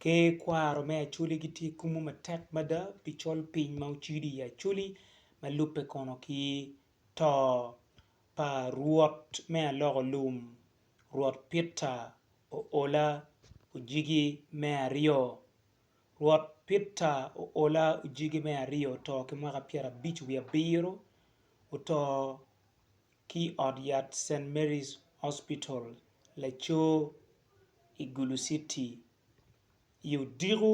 ki kwaro me Acholi gitye kumo matek mada pi col piny ma ocido i Acholi ma lubbe kono ki to pa Rwot me aloko lum, Rwot Pitta Oola Ojigi me Aryo. Rwot Pitta Oola Ojigi me Aryo oto ki mwaka pyerabic wiye abiro, oto ki i ot yat St. Mary's Hospital, Lacoo, i Gulu Citi i odiko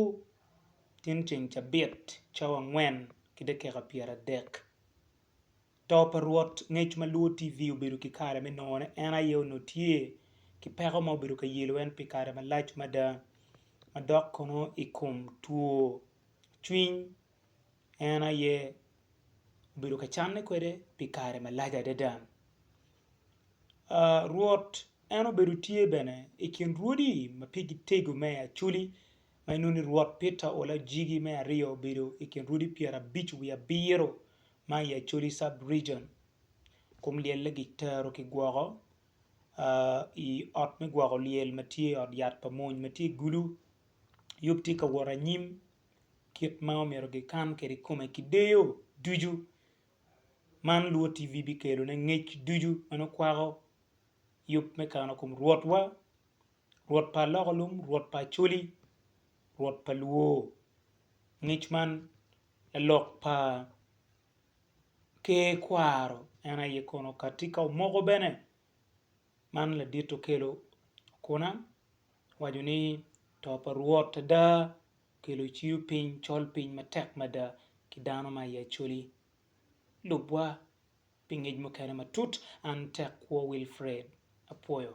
tin ceng cabit cawa angwen ki dakika pyeradek. To pa Rwot ngec ma lwor TV obedo ki kare me nongone, en aye onongo tye ki peko ma obedo ka yelo en pi kare malac mada, madok kono i kom two cwiny. en aye obedo ka canne kwede pi kare malac adada. Rwot en obedo tye bene i kin rwodi ma pigi tego me Acoli ma inongo ni Rwot Peter Olajigi me aryo obedo i kin rwodi pyerabic wiye abiro ma i Acholi Sub Region. Kum lyelle gitero ki gwoko i ot me gwoko lyel ma tye i ot yat pa mony ma tye i Gulu. Yub tye ka wot anyim kit ma omyero gikan kwede kome ki deyo ducu. Man lubo TV bikelone ngec ducu ma nongo kwako yub me kano kom Rwotwa, Rwot pa aloko lum, Rwot pa Acholi, Rwot pa luwo. Ngec man lalok pa Ker kwaro en aye kono kadi ka omoko bene man ladit okelo akona. Waco ni, To pa Rwot ada okelo ciyo piny col piny matek mada ki dano ma i Acholi. Lubwa, pi ngec mukene matut, an Tekkwo Wilfred, apwoyo.